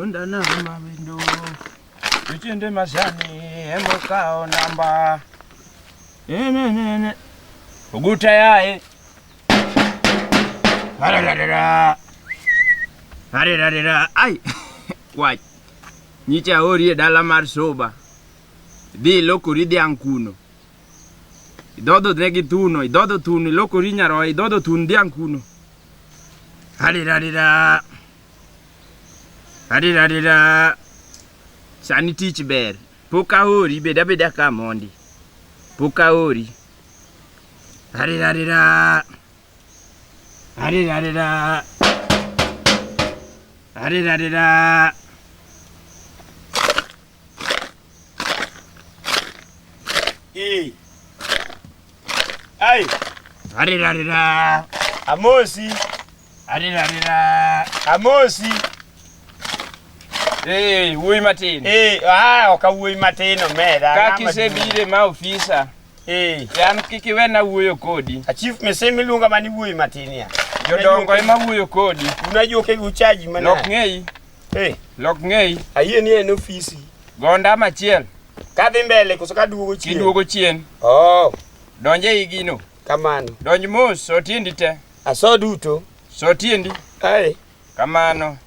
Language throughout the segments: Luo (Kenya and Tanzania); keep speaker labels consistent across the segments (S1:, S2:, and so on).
S1: Undanama windu Uchinde mashani emukao namba Uguta yae Harararara Harararara Ai Wach Nyicha ori e dala mar soba Dhi ilokori dhiang' kuno Idhodho ne gi thuno Idhodho thuno ilokori nyaroya Idhodho thun dhiang' kuno Adidadida. Adidadida. Sani tich ber. Pok aori, bed abeda ka mondi. Pok aori. Adidadida. Adidadida. Adidadida. Hey. Ai. Arira arira. Amosi. Arira arira. Amosi. Hey, wuoyi matin. Eh, ah, okawuoyi matin omera. Kaka isebire ma ofisa. Eh. Yan kik iwena wuoyo kodi. A chief mese miluonga mani wuoyi matin ya. Jodongo ema wuoyo kodi. Unajua ukeguchaji manani. Nok ng'eyi. Hey, lok ng'eyi. Ayie ni en ofisi. Gonda machiel. Kadhi mbele koso kaduogo chien. Kiduogo chien. Oh. Donje ei gino. Kamano. Donj mos, so tiendi te. Aso duto. So tiendi. Hey. Kamano.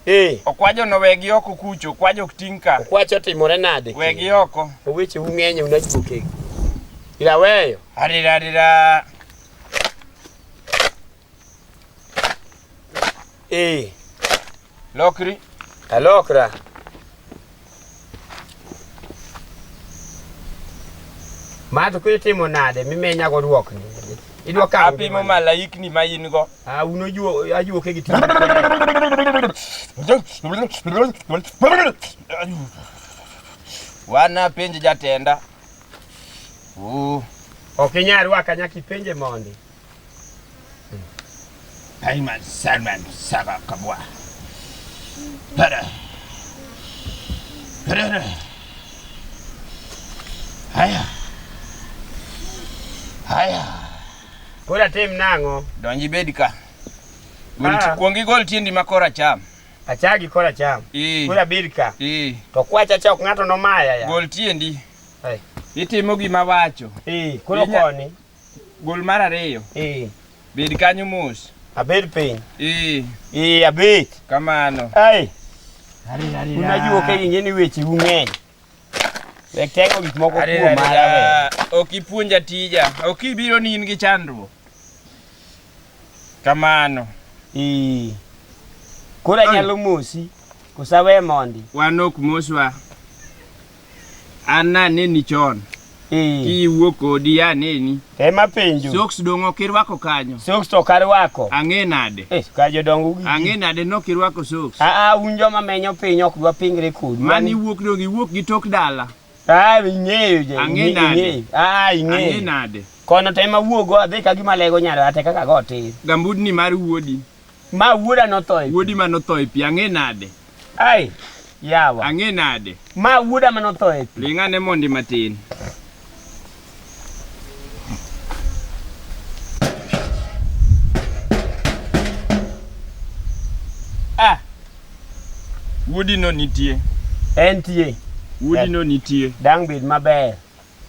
S1: Hey. Okwajo no wegi oko kucho, okwajo ok ting' ka. Okwacho otimore nade? Wegi oko. Oweche ung'enyo unachuokegi. Ila weyo. Arira arira. Eh. Lokri. Alokra. Mato kwe timo nade mimenya go duok ni. Idwa ka apimo malaik ni mayin go. Ah uno juo ajuo ke gitimo. Wana penje jatenda. Uh. Okinyari wakanya kipenje mondi. Payman Selman Saba Kabwa. Pere. Pere. Haya. Haya. Pod atim nang'o? Donji bed ka. Gol Ah. kuong igol tiendi ma kora cham. Achagi kora cham. Ee. Kora birka. Ee. To kwacha cha ok ng'ato nomaya ya. Gol tiendi. Ai. Itimo gima wacho. Ee, koro Inya- koni. Gol mar ariyo. Eh. Bed kanyo mos. Abed piny. Eh. Eh, abet. Kamano. Ai. Unajua ka yenye ni weche ung'eny. Wek tego gik moko kuom mara we. Ok ipuonja tija. Ok ibiro ni in gi chandruok. Kamano. Eh. Kora nyalo mosi. Kusawe mondi. Wanok moswa. An naneni chon. Eh. Kiwuok kodi aneni. Ema penjo. Socks dong' ok irwako kanyo. Socks to ok arwako. Ang'e nade? Eh, ka jodongo gi. Ang'e nade nok irwako socks? Ah ah, un joma menyo piny ok dwa pingre kod. Mani iwuok dong' iwuok gi tok dala. Ah, ing'eyo je. Ang'e nade? Ah, ing'eyo. Ang'e nade? Kono to ema wuogo adhi ka gima lego nyaro ate kaka go tir. Gambudni mar wuodi. Ma wuoda nothoe. Wuodi ma nothoe pi ang'e nade? Ai, yawa. Ang'e nade? Ma wuoda mane otho e pi. Ling' ane mondi matin. Ah, wuodino nitie. Entie. Wuodino nitie. Dang' bed maber.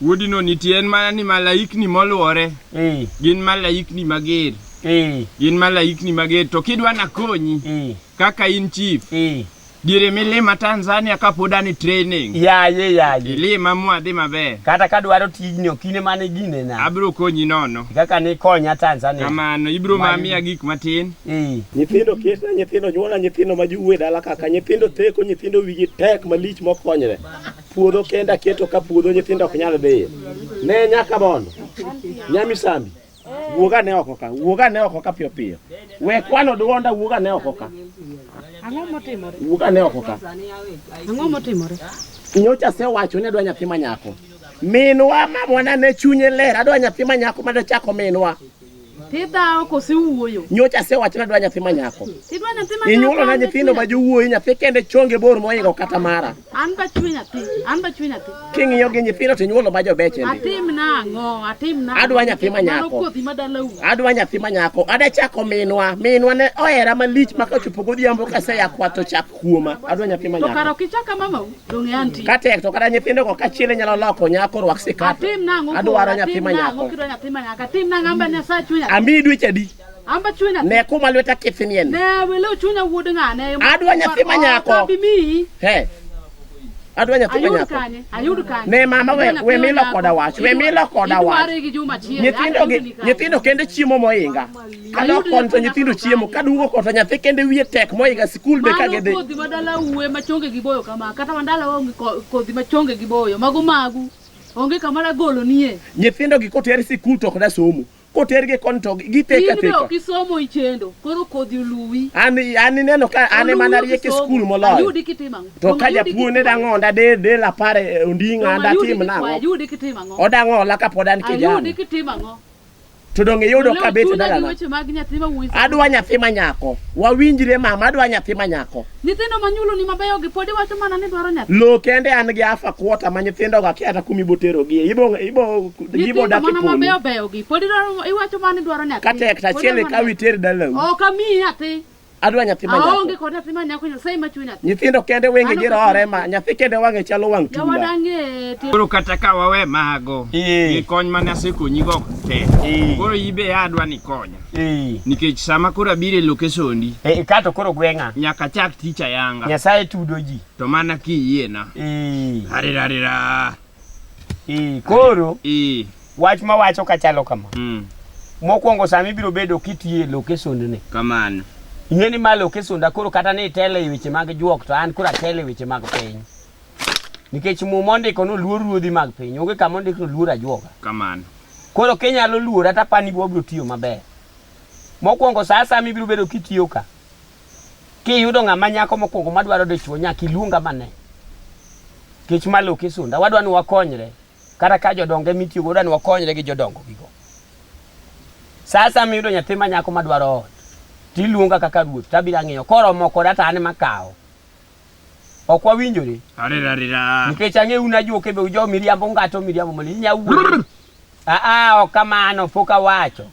S1: Wuodino nitie en mana ni malaikni moluore eh. gin malaikni mager eh. gin malaikni mager to kidwa nakonyi eh. kaka in chief diere milima Tanzania kapod an e training yaye yaye ilima mwadhi maber kata kadwaro tijni okine mane gine na abiro konyi nono kaka ni konya Tanzania kamano ibiro mamiya gik matin nyithindo kieta nyithindo nyuola nyithindo ma juwe dala kaka nyithindo teko nyithindo wigi tek malich mokonyre puodho kenda keto ka puodho nyithindo ok nyal dhiye ne nyaka mondo nyamisambi wuog ane oko ka wuog ane oko ka piyo piyo we kwano dwonda wuog ane oko ka Ang'o motimore? wuog ane oko ka Ang'o motimore? nyocha asewacho ni adwa nyathi manyako minwa mamwana ne chunye ler adwa nyathi manyako madachako minwa Tidhawo
S2: kose wuoyo. Nyocha asewacho nadwa
S3: nyathi ma nyako. Tidwa nyathi ma nyako. Inyuolo
S2: na nyithindo ma
S3: jowuoyi nyathi kende chonge bor moingo kata mara. An ba chwe nyathi.
S2: An ba chwe nyathi. King'iyo
S3: gi nyithindo to inyuolo ma jobeche. Atim na ang'o?
S2: Atim na. Adwa nyathi
S3: ma nyako. Adwa
S2: nyathi ma nyako.
S3: Ada chako minwa. Minwa ne ohera malich ma kochopo godhiambo ka se yakwa to chak kuoma adwa nyathi ma nyako. Karo kichaka mama
S2: donge anti. Ka tek to kata nyithindo ko
S3: kachiel inyalo loko nyako rwak sikat. Atim nang'o? Adwaro
S2: nyathi ma nyako. Atim
S3: nang'o? Nyathi ma nyako. Atim
S2: nang'o amba ne sa chunya. Ami dweche adi?
S3: Amba chunya. Ne
S2: kuma lweta kithini
S3: en. Ne welo chunya
S2: wuod ng'ane. Adwa nyathi ma
S3: nyako. Kabi mi. He. Adwa nyathi ma nyako. Ayud kanye. Ne
S2: mama we we
S3: milo koda wach. We milo koda wach. Nyithindo nyithindo kende chiemo moinga. Alok kon to nyithindo chiemo ka dugo kota nyathi kende wiye tek moiga sikul be ka gidhi. Kodhi madala uwe
S2: machonge gi boyo kama kata mandala onge kodhi machonge gi boyo mago magu onge kama na golo nie. Nyithindo gi koter
S3: sikul to koda somo. Koter gi kon to giteka teka. Indo kisomo ichendo
S2: koro kodhi oluwi. Ani ani neno ka
S3: ani mana rie ki sikul moloyo. Ayudi kitima. To
S2: ka japuo ne
S3: dango onda de de la pare eh, ondinga anda tim nango. Ayudi kitima ngo.
S2: Odango la ka podan
S3: kijana. Ayudi kitima ngo.
S2: to donge iyudo
S3: ka bet dalana adwa nyathi ma nyako wawinjre mama adwa nyathi ma nyako nyithindo ma nyuoloni
S2: mabeyo gi pod iwacho mana ni dwaro nyathi lo kende an gi afa
S3: kuota ma nyithindo ga kiata kumi botero gi ibo ibo gibo dak mana mabeyo beyo
S2: gi pod iwacho mana ni dwaro nyathi katek ta chiele ka
S3: witer dalau ok amiyi nyathi
S2: Adwa nyathi ma nyako.
S3: Aonge kod nyathi ma nyako
S2: Nyasaye ma chwe nyathi. Nyithindo kende wenge gi
S3: rore ma nyathi kende wang'e chalo wang' tula. Jawada ng'e. Koro
S2: kata ka
S1: wawe mago. Gi kony mane asekonyi go te. Koro ibe adwa ni konya. Nikech sama koro abire lokesondi. E kato koro gweng'a.
S3: Nyaka chak ticha
S1: yanga. Nyasaye tudo ji.
S3: To mana ki yie
S1: na. Harirarira.
S3: Ee, koro Ee. wach ma wacho ka chalo kama Mm. mokwongo sama ibiro bedo kitiye lokesondni Kamano.
S1: ing'e ni ma
S3: lokesonda koro kata ni itelo e weche mag juok to an koro atelo e weche mag piny nikech muma ondiko ni oluor ruodhi mag piny onge kama ondiko ni oluor ajuoga Kamano.
S1: koro kinyalo
S3: luora tapani wabiro tiyo maber mokwongo saa sama ibiro bedo kitiyo ka Kiyudo ng'ama nyako mokwongo madwaro dichwo nyaka iluonga mane. Kech malo kisunda wadwa ni wakonyre kata ka jodonge mitiyo godo ni wakonyre gi jodongo gigo. Sasa miyudo nyathi ma nyako madwaro ot tiluonga kaka ruoth tabiro ang'iyo koromo koda to an ema akawo. Ok wawinjore. Arira arira.
S1: Nikech ang'e un
S3: ajuoke be ujo miriambo ngato miriambo mali inya wuondo. Ah ah ok kamano pok awacho.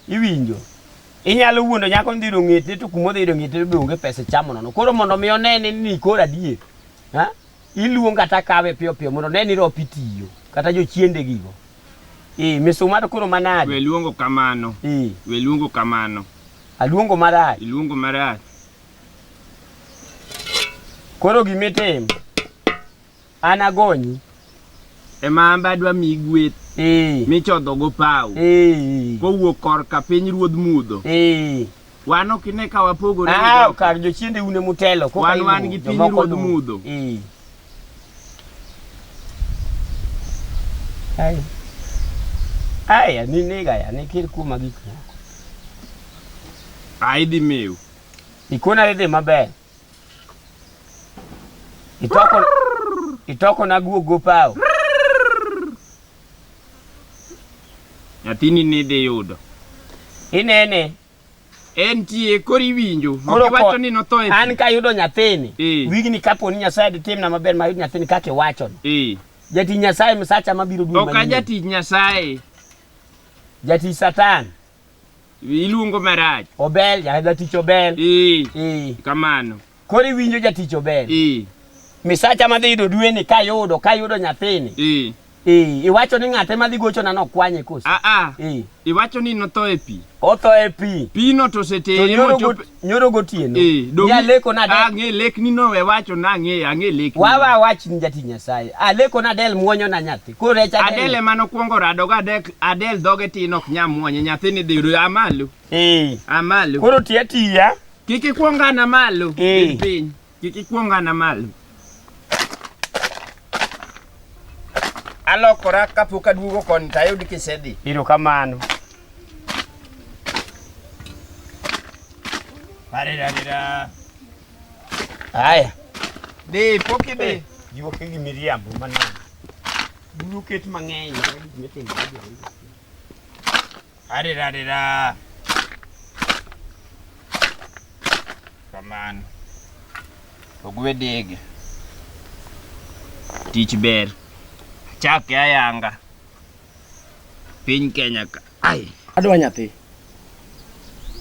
S3: Iwinjo. Inyalo wuondo nyako ndhi rong'ete to kuma odhi rong'ete be onge pesa chamo nono. Koro mondo mi onene ni kora die. Ha? Iluong kata kawe piyo piyo mondo ne ni ropi tiyo kata jochiende gigo. Eh misuma to koro manade. We luongo kamano.
S1: Eh. We luongo kamano. Aluongo
S3: marach. Iluongo marach. Koro gima itim, an agonyi. Ema an
S1: be adwa miyi gweth Eh, michodhogo paw eh, kowuok korka piny ruodh mudho. eh. Wan ok ine ka wapogore gi Ah, jogo. kar jochiende
S3: une mutelo. koka Wan iluwo, wan gi piny jomoko
S1: ruodh luwo. mudho. Eh.
S3: Ai. Ai, ani nega ya, nikir kuma gik moko.
S1: Ai dhi meu. Ikona idhi
S3: maber. Itoko itoko na guo gopao.
S1: Nyathini ni dhi yudo. Inene.
S3: En
S1: tie koro iwinjo. Koro wacho ni notho e. An ka yudo nyathini.
S3: E. Wigni kapo ni Nyasaye di timna maber ma yudo nyathini kake wacho ni. E. Jati Nyasaye msacha mabiro duogo. Ok ajati Nyasaye. Jati Satan. Iluongo
S1: marach. Obel, ja- jatich
S3: obel. Ee, Ee. kamano.
S1: Koro iwinjo
S3: jatich obel. Ee, Misacha madhi yudo dweni kayudo, kayudo nyathini. ee. Ee, iwacho ni ng'ate madhi gochona nokwanye koso. Ah, ah. Ee. Iwacho
S1: ni notho e pi. Otho e pi.
S3: Pino to To osetere
S1: nyoro mochopo. got- nyoro
S3: gotieno Eh, donge- jaleko na del Ang'e lekni no we wacho
S1: na ang'e ang'e lekni. wawa wach ni jati
S3: nyasaye aleko na del muonyo na nyathi korecha del. Adele mano kwongo rado ga
S1: Adel Adel dhoge tin ok nyam mwonye nyathini dhiru amalo eh amalo koro tiya tiya
S3: kik ikwongana
S1: malo Eh. piny piny Kik ikwong ana malo. Alokora kapok aduogo koni to ayud kisedhi. Iro kamano. Arira arira.
S3: Haya.
S1: Dhi pok idhi. Jiwo ke gi miriambo
S3: manang. Buru ket mang'eny. Gima timore. Hadi da di da.
S1: Kamano. Ogwe dege. Tich ber. Chak ya yanga. Piny Kenya ka. Ai. Adwa nyathi.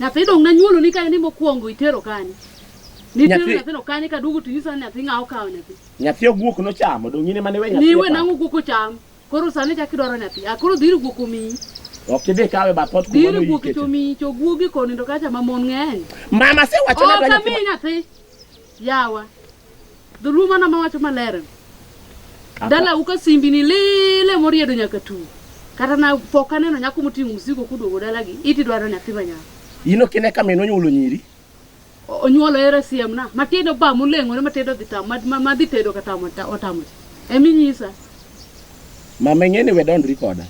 S2: Nyathi dong' nanyuolo ni kane ni mokwongo itero kanye? Nitero Nyathi- nyathino kanye kaduogo to inyisa ni nyathi ng'a okawo nyathi. Nyathi oguok nochamo,
S4: donge in ema niwe nyathi? Niwe e pap? nang'o guok ocham.
S2: Koro sani chak idwaro nyathi. A koro dhiri guok omiyi. Ok idhi kawe
S4: bath ot kuma Dhiri guok noyike. to omiyi
S2: to guogi konindo kacha ma mon ng'eny. Mama sewacho
S4: ni Ok adwa nyathi. amiyi nyathi.
S2: Yawa. Dholuo mana ma wacho maler. Dala uka simbi ni lele moriedo nyaka tu. Kata na poka neno nyako moting'o msigo kuduogo dala gi. Iti dwaro nyathi ma nyako. Ino kine ka
S4: meno nyulo nyiri. Onyuolo
S2: era siem na. Matindo ba mulengo ne matindo dhi tamo. Madhi tedo ka tamo otamo. Emi nyisa.
S4: Mama ng'eni we dondri koda.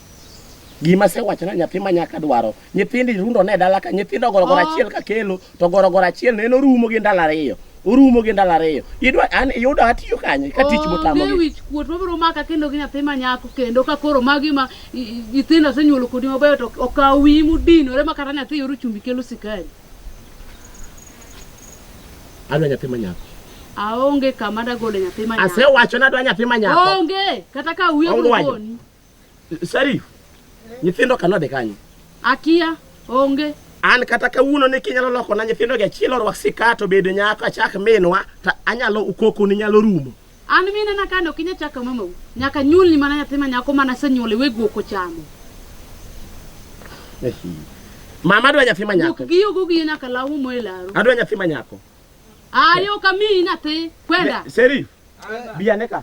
S4: Gima se wacho na nyathi ma nyaka dwaro. Nyithindi rundo ne dala ka nyithindo goro goro ah. achiel ka kelo. to gorogoro achiel ne en orumo gi ndalo ariyo orumo gi ndalo ariyo idwa an yudo atiyo kanye ka tich motamo onge gi wich kuot mabiro
S2: maka kendo gi nyathi ma nyako kendo ka koro magi ma i- i- nyithindo asenyuolo kodi mabeyo to okawo wiyi mudinore ma kata nyathi yoro chumbi kelo sikari adwa
S4: nyathi manyako aonge
S2: kama dagole nyathi ma nyako asewacho ni adwa nyathi
S4: manyako onge kata ka
S2: wiye Ongwajo. biro koni Sharif,
S4: nyithindo ka nodhi kanye? Akia,
S2: onge. An kata kawuono
S4: ni kinyalo loko na nyithindo gi achiel orwak sikat obed nyako achak minwa to anyalo ukoko ni nyalo rumo. An mine na kano
S2: kinya chaka mamau. Nyaka nyuol ni mana nyathi ma nyako mana senyuol iwe guok ochamo.
S4: Mama adwa nyathi ma nyako. Guok giyo guok giyo nyaka lawu
S2: mo e laro. Adwa nyathi ma nyako.
S4: Ayo
S2: kami nyathi kwenda. Seri.
S4: Biya neka.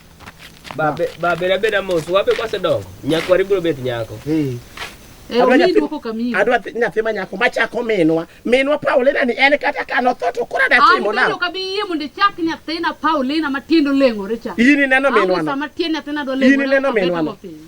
S1: Babe, babe na beda mos, wabe kwa sedongo. Nyako wari bro bet nyako. Eh. Eh, Adwa omi nyathi- duoko kamiyo.
S4: Adwa thi- nyathi ma nyako machako minwa. Minwa Paulina ni en kata ka notho to koro An adatimo bende nang'o? ok abi yie mondo
S2: ichak nyathina Paulina matiende oleng'ore cha. In ineno An minwa no? sama
S4: tiend nyathina dwa
S2: In leng'ore, ineno abet minwa no? go piny.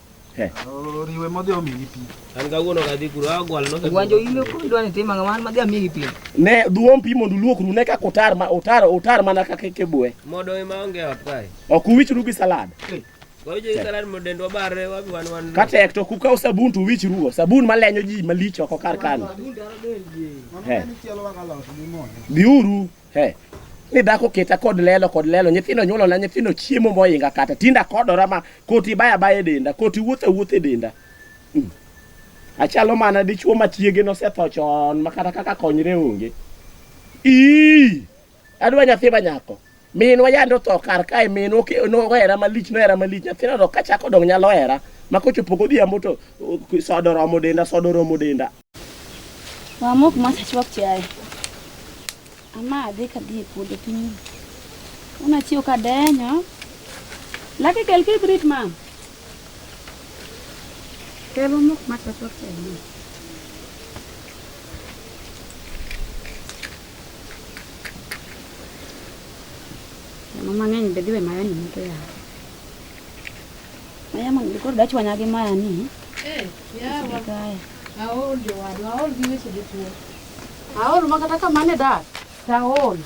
S5: Oriwe modhi omigi pi. An kawuono kadhi
S1: kuro agwal no. Gwanjo ile ko dwani
S3: tima ngama madhi amigi pi. Ne duom pi
S4: mondo luokru ne kaka otar ma otar otar mana kaka kebue. Modo ema onge
S1: ot kae. Ok uwichru gi
S4: salad.
S1: Ka tek to kukaw
S4: sabun to uwichrugo. Sabun malenyo ji malich oko kar kano. Biuru. Hey, ni dhako keta kod lelo kod lelo nyithindo nyuolo na nyithindo chiemo moinga kata tinda kodora ma koti baya baya e denda koti wuotho wuotho e denda mm. achalo mana dichuo ma chiege nosetho chon ma kata kaka konyre onge ii adwa nyathi ma nyako minwa yande otho kar kae minwa nohera malich nohera malich nyathino to kachako dong nyalo hera ma kochopo godhiambo to sodo romo denda sodo romo denda
S6: Wamok masechwak chiaye. Ama adhi ka dhi e puodho piny. Una chiwo ka denyo.
S2: Laki kel kibrit ma. Kel wamok masechwak chiaye. Mama ng'eny be dhi we mayo ni moto yawa.
S6: Maya mondo koro dachwanya gi maya ni. Eh,
S2: yawa. Aol
S6: jowadwa,
S2: aol gi weche jotuo. Aol ma kata kamane dak, to aol.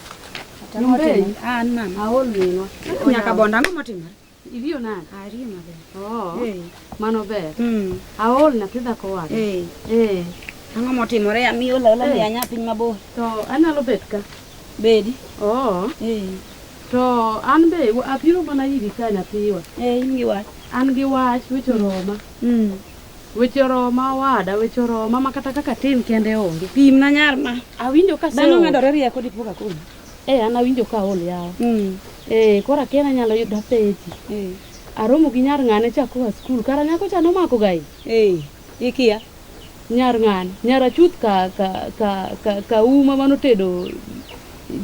S2: Nyumbei?
S6: An mama. Aol minwa.
S2: Nyaka bonda ang'o
S6: motimore? Iriyo nade?
S2: Ariyo maber. Oh,
S6: Eh,
S2: mano
S6: ber.
S2: mm, Aol nyathi
S6: dhako wade.
S2: eh.
S6: Eh, Ang'o motimore amiyo lola Eh. ni anya piny mabor. to anyalo bet
S2: ka. Bedi.
S6: Oh,
S2: Eh. To an be wa- apiro mana iri ka nyathiwa. Eh, in gi wach.
S6: An gi wach weche
S2: oroma. Mm. Weche oroma wada, weche oroma ma kata kaka tin kende onge. Pim na nyar ma.
S6: Awinjo ka Dhano seol.
S2: medore rieko dipo
S6: ka koni. Eh, an awinjo ka
S2: ol yawa. Mm. Eh, koro akiana nyalo yudo peji. Eh. Aromo gi nyar ng'ane cha koa skul. Kara nyako cha nomako gai. Eh. Ikia
S6: nyar
S2: ng'ane? Nyar achuth ka ka ka ka, ka uma mano tedo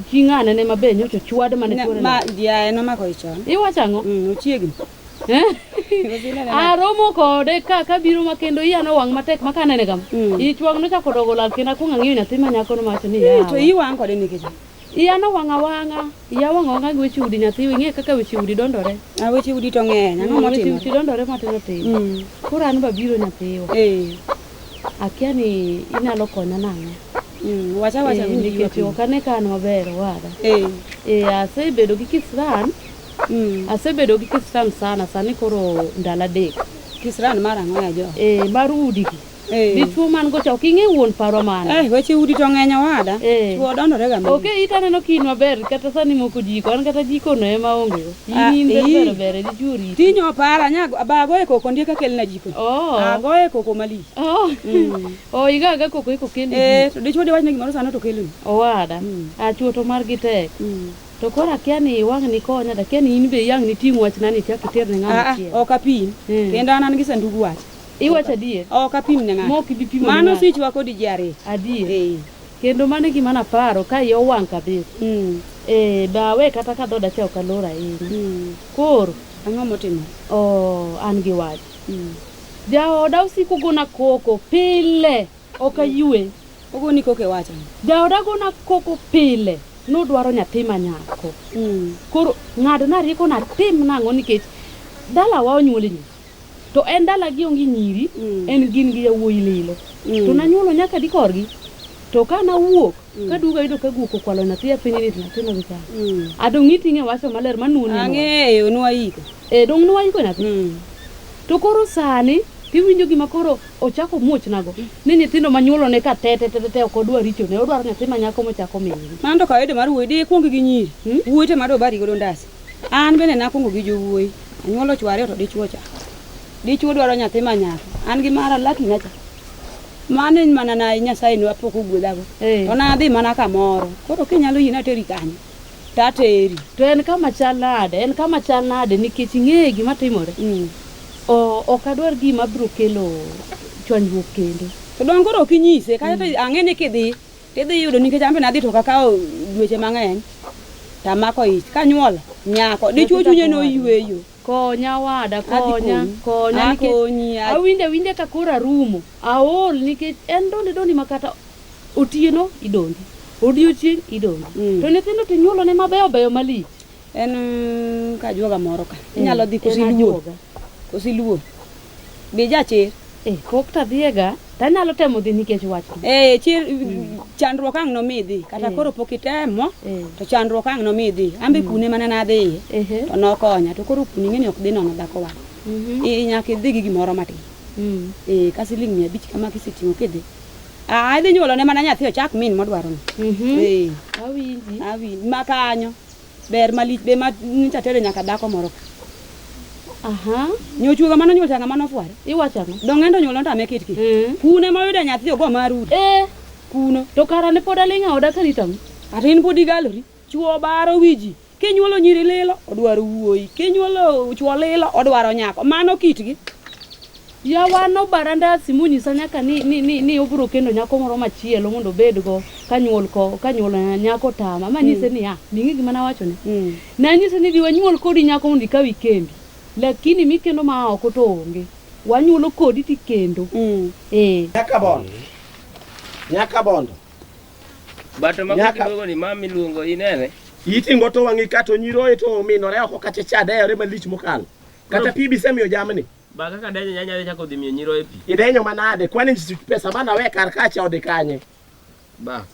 S2: chi ng'ane ne mabe nyocho chwad mane tuore. Ma jiaye nomako
S6: ichon. Iwacho ang'o? Mm,
S2: ochiegni. aromo kode ka kabiro ma kendo iya no wang' matek ma kanene kama mm. ichwang' nochako dogo lal kendo akwong' ang'iyo nyathi ma nyakono mawacho ni to iwang' kode nikech
S6: Iya nowang'
S2: awang'a, iya owang' awang'a gi weche udi nyathi, ing'e kaka weche udi dondore. A weche udi to ng'eny,
S6: ang'o Mm, Weche motimore? udi dondore matindo tindo.
S2: Mm. Koro an babiro nyathiwa, Eh. akia ni inyalo konya nang'o. Mm. Wacha wacha
S6: Eh, winji nikech ywakni. ok
S2: ane ka an maber owada. Eh. Eh, asebedo gi kisran, Mm. asebedo gi kisran sana, sani koro ndalo adek. Kisran mar ang'o
S6: ya jo? Eh, mar udi gi.
S2: Eh. Dichuo man gocha ok ing'e wuon paro mane. Eh, weche udi to ng'eny
S6: owada. Eh. Chuo dondore ga. Ok it aneno kin maber
S2: kata sani moko jiko an kata jiko no ema onge go. Ah, in eh. ber ber di juri. Tinyo para nya
S6: bago e koko ndie ka kelna jiko. Oh. Ago e koko mali. Oh. Mm. Oh
S2: iga ga koko iko kendi. Eh, to dichuo de wachne gimoro sano
S6: to kelni. Owada. Mm. A
S2: ah, chuo to mar gi tek. Mm. to koro akia ni wang' ni konya to akia ni in be yang' ni ting' wachna ni chak iter ne ng'ama ah, ah, chiel ok apim eh. kendo
S6: an an gi sandug wach Iwacho adier?
S2: Ok apim ne ng'ato. Mok
S6: ibi pimo ne Mano ng'ato. switch
S2: wa kodi ji
S6: ariyo. Adier. Eh.
S2: Kendo mano e gima naparo ka iya owang' kabisa. Mm. Eh, dawe kata ka dhoda cha ok alor ahinya. Mm. Koro Ang'o motimo?
S6: oh, an gi
S2: wach. Mm. Jaoda osiko gona koko pile. Ok ayue. Ogoni koko e
S6: wacha. Jaoda gona
S2: koko pile. Nodwaro nyathi ma nyako. Mm. Koro ng'adna rieko natim nang'o nikech dalawa onyuol e nyusi. To en dalagi onge nyiri, en gin gi yawuoyi lilo. To nanyuolo nyaka adi korgi? To ka nawuok, kaduogo ayudo ka guok okwalo nyathi e piny ni to nyathino gi chamo. A donge iting'e wacho maler ma nuo ni nwa? Ang'eyo, nwa
S6: iko. E, donge nwa iko nyathi?
S2: To koro sani tiwinjo gima koro ochako muochnago ni nyithindo manyuolone ka te te te te te ok odwar richone, odwaro nyathi manyako mochako miyogi. Mano to kawaida mar wuoyi,
S6: dikwong gi nyiri. Wuoyi to ema dobari godo ndasi. An bende nakwongo gi jowuoyi, anyuolo chwo ariyo to dichwo cha. Dichwo dwaro nyathi ma nyako. An gi mara laki na cha. Mano en mana na Nyasaye ne apok ogwedhago. Eh. To nadhi mana kamoro. Koro kinyalo yie nateri kanyo. To ateri. To en kama
S2: chal nade? En kama chal nade nikech ing'eyo gima timore. Mm. O- Ok adwar gima biro kelo chwanyruok kendo. To donge koro ok
S6: inyise kata to ang'e ni kidhi Idhi yudo nikech an be nadhi to kakawo dweche mang'eny to amako ich kanyuol nyako dichwo chunye noyweyo konya wada
S2: konya konya nikech awinjo awinja ka koro arumo aol nikech en doni doni makata otieno idondi odiochieng idondi mm. to nyithindo to inyuolone mabeyo beyo malich En
S6: kajuoga moro ka. Eh, Inyalo dhi kosi luo. Kosi luo. Be jachir. Eh, pok to adhiyega
S2: to anyalo temo dhi nikech wach eh, chir mm.
S6: chandruok ang' nomi dhi kata eh. koro pok itemo eh. to chandruok ang' nomi dhi an be mm. kune mana nadhiye to nokonya to koro kuni ng'eni ok dhi nono dhako wang' mhm. nyaka idhi gi gimoro matin mm. eh, ka siling' mia abich kama kiseting'o kidhi ah, idhi nyuolone mana nyathi ochak min modwarono mhm. awinji ma kanyo Ber malich be ma nyicha tere nyaka dhako moro ka. Aha. Nyochuoga mano nyuol changa mano fware. Iwacho ang'o? Dong'endo
S2: nyuol ontame kit kit.
S6: Eh. Kune ma oyudo nyathi ogo marudi.
S2: Eh. Kuno. To kara ne pod aling'
S6: aoda
S2: karito ang'o? Kata in pod igalori. Chuo
S6: baro wiji. Kinyuolo nyiri lilo odwaro wuoyi. Kinyuolo chuo lilo odwaro nyako. Mano kitgi. Yawa
S2: nobara ndasi monyisa nyaka ni, ni, ni, ni obiro kendo nyako moro machielo mondo obedgo ka nyuol ko ka nyuol eh, nyako tama manyise mm. niya ming'e gima nawachone mm. nanyise ni dhi wanyuol kodi nyako mondo ikaw ikendi lakini mikendo ma oko to onge wanyuolo kodi tikendo mm. eh. nyaka bondo
S4: nyaka bondo
S1: bato mako kidogo ni mami luongo inene itingo to wang'i
S4: kato nyiroye to ominore oko kata chadeyore malich mokalo kata pi bisemiyo jamni Ba kaka denyo nyanya
S1: dhi chako dhi miyo nyiroye pi. Idenyo manade? Kwani
S4: pesa mana we kar kacha ode kanye? Ba.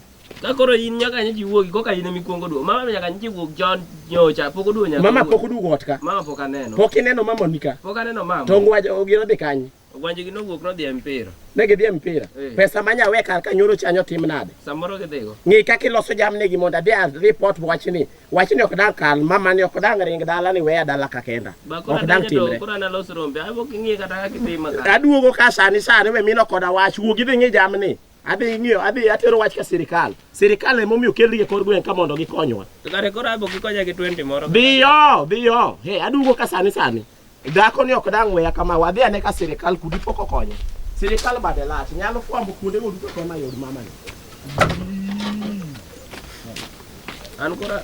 S1: Ka koro in nyaka nyi jiwuogi koka in emi kuongo duo. Mama nyaka nyi jiwuog John nyocha pok oduo nyaka. Mama pok oduo ot ka. Mama
S4: pok aneno. Pok
S1: ineno mama ni ka.
S4: Pok aneno mama. To ngwaje
S1: ogiro dhi
S4: kanye? Ogwanje gi nowuok nodhi
S1: e mpira. Ne gidhi e mpira.
S4: Eh. Pesa manya we kar ka nyoro chanyo tim nade? Samoro gidhigo. Ng'i
S1: kaka iloso jamni
S4: gi mondo adhi report wachni. Wach ni ok dang' kal, mama ni ok dang' ring dala ni weya dala ka kenda. Bakora Ok dang' timre. Kora na los rombe. Abo
S1: kingi kata kaka itima ka. Aduogo ka sani sani
S4: we mino koda wach, wuog idhi ng'i jamni. Adhi ng'iyo, adhi atero wach ka sirikal. Sirikal ema omiyo okelgi e kor gweng' ka mondo gikonywa. Kare kora abo
S1: kikonya gi 20 moro. Dhiyo, dhiyo.
S4: He, aduogo ka sani sani. Dhako ni ok dang' weya kama, wadhi ane ka sirikal kudi pok okonye. Sirikal bade lach, nyalo fwambo kuonde go duto kama yod mama ni. An kora